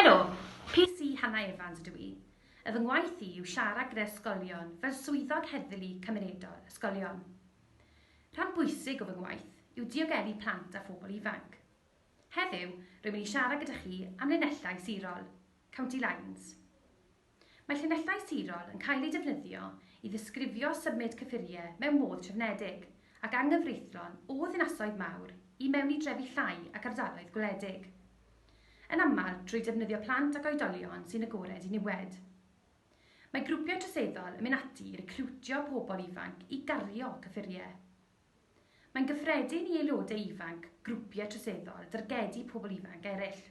Helo! PC Hannah Evans ydw i. Y fy ngwaith i yw siarad gyda ysgolion fel swyddog heddlu cymunedol ysgolion. Rhan bwysig o fy ngwaith yw diogelu plant a phobl ifanc. Heddiw, rwy'n mynd i siarad gyda chi am linellau sirol, county lines. Mae llinellau sirol yn cael eu defnyddio i ddisgrifio symud cyffuriau mewn modd trefnedig ac anghyfreithlon o ddinasoedd mawr i mewn i drefi llai ac ardaloedd gwledig. Yn aml, trwy defnyddio plant ac oedolion sy'n agored i niwed. Mae grwpiau troseddol yn mynd ati i recriwtio pobl ifanc i gario cyffuriau. Mae'n gyffredin i aelodau ifanc grwpiau troseddol dargedu pobl ifanc eraill.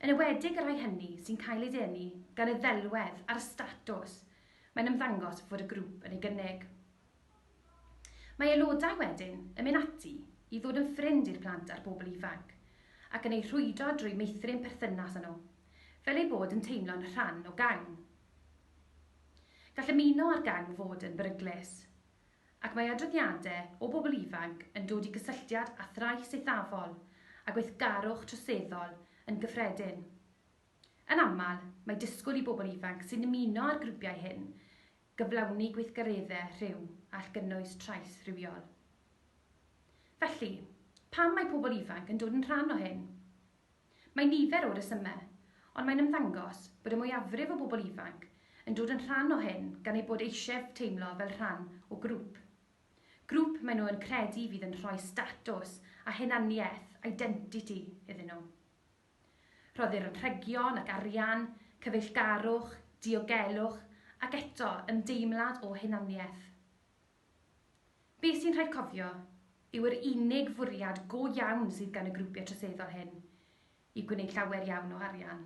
Yn enwedig y rhai hynny sy'n cael eu denu gan y ddelwedd a'r statws mae'n ymddangos fod y grŵp yn ei gynnig. Mae aelodau wedyn yn mynd ati i ddod yn ffrind i'r plant a'r bobl ifanc ac yn eu rhwydo drwy meithrin perthynas â nhw, fel eu bod yn teimlo'n rhan o gang. Gall ymuno â'r gang fod yn beryglus. ac mae adroddiadau o bobl ifanc yn dod i gysylltiad â thrais eithafol a gweithgarwch troseddol yn gyffredin. Yn aml, mae disgwyl i bobl ifanc sy'n ymuno â'r grwpiau hyn gyflawni gweithgareddau rhyw all gynnwys trais rhywiol. Felly, pam mae pobl ifanc yn dod yn rhan o hyn? Mae nifer o resymau, ond mae'n ymddangos bod y mwyafrif o bobl ifanc yn dod yn rhan o hyn gan eu bod eisiau teimlo fel rhan o grŵp. Grŵp maen nhw yn credu fydd yn rhoi statws a hunaniaeth, identity, iddyn nhw. Rhoddir anrhegion ac arian, cyfeillgarwch, diogelwch ac eto ymdeimlad o hunaniaeth. Beth sy'n rhaid cofio yw yr unig fwriad go iawn sydd gan y grwpiau troseddol hyn yw gwneud llawer iawn o arian.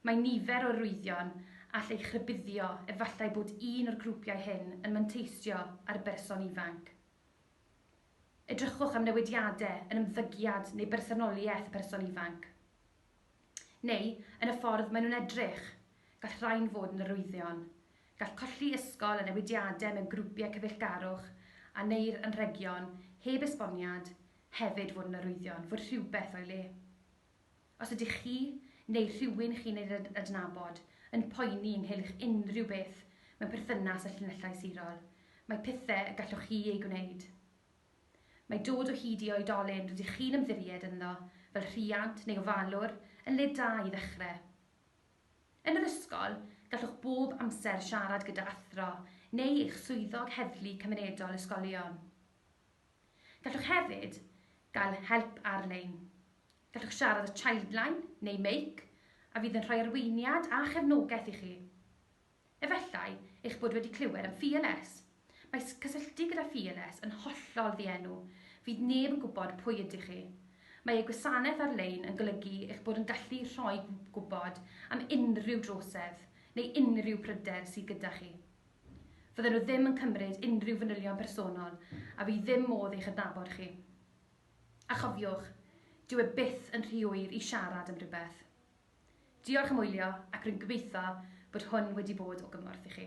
Mae nifer o arwyddion all eich rhybuddio efallai bod un o'r grwpiau hyn yn manteisio ar berson ifanc. Edrychwch am newidiadau yn ymddygiad neu bersonoliaeth y person ifanc. Neu, yn y ffordd maen nhw'n edrych. Gall rhain fod yn arwyddion. Gall colli ysgol a newidiadau mewn grwpiau cyfeillgarwch, a neu'r anrhegion, heb esboniad, hefyd fod yn arwyddion fod rhywbeth o'i le. Os ydych chi, neu rhywun chi'n ei adnabod, yn poeni ynghylch unrhyw beth mewn perthynas â llinellau sirol, mae pethau y gallwch chi eu gwneud. Mae dod o hyd i oedolyn rydych chi'n ymddiried ynddo, fel rhiant neu ofalwr, yn le da i ddechrau. Yn yr ysgol, gallwch bob amser siarad gyda athro neu eich swyddog heddlu cymunedol ysgolion. Gallwch hefyd gael help ar-lein. Gallwch siarad â Childline neu Make a fydd yn rhoi arweiniad a chefnogaeth i chi. Efallai eich bod wedi clywed am Fearless. Mae cysylltu gyda Fearless yn hollol ddienw, fydd neb yn gwybod pwy ydych chi. Mae eu gwasanaeth ar-lein yn golygu eich bod yn gallu rhoi gwybod am unrhyw drosedd neu unrhyw bryder sydd gyda chi. Fydden nhw ddim yn cymryd unrhyw fanylion personol a fydd ddim modd eich adnabod chi. A chofiwch, dyw e byth yn rhy hwyr i siarad am rywbeth. Diolch am wylio ac rwy'n gobeithio bod hwn wedi bod o gymorth i chi.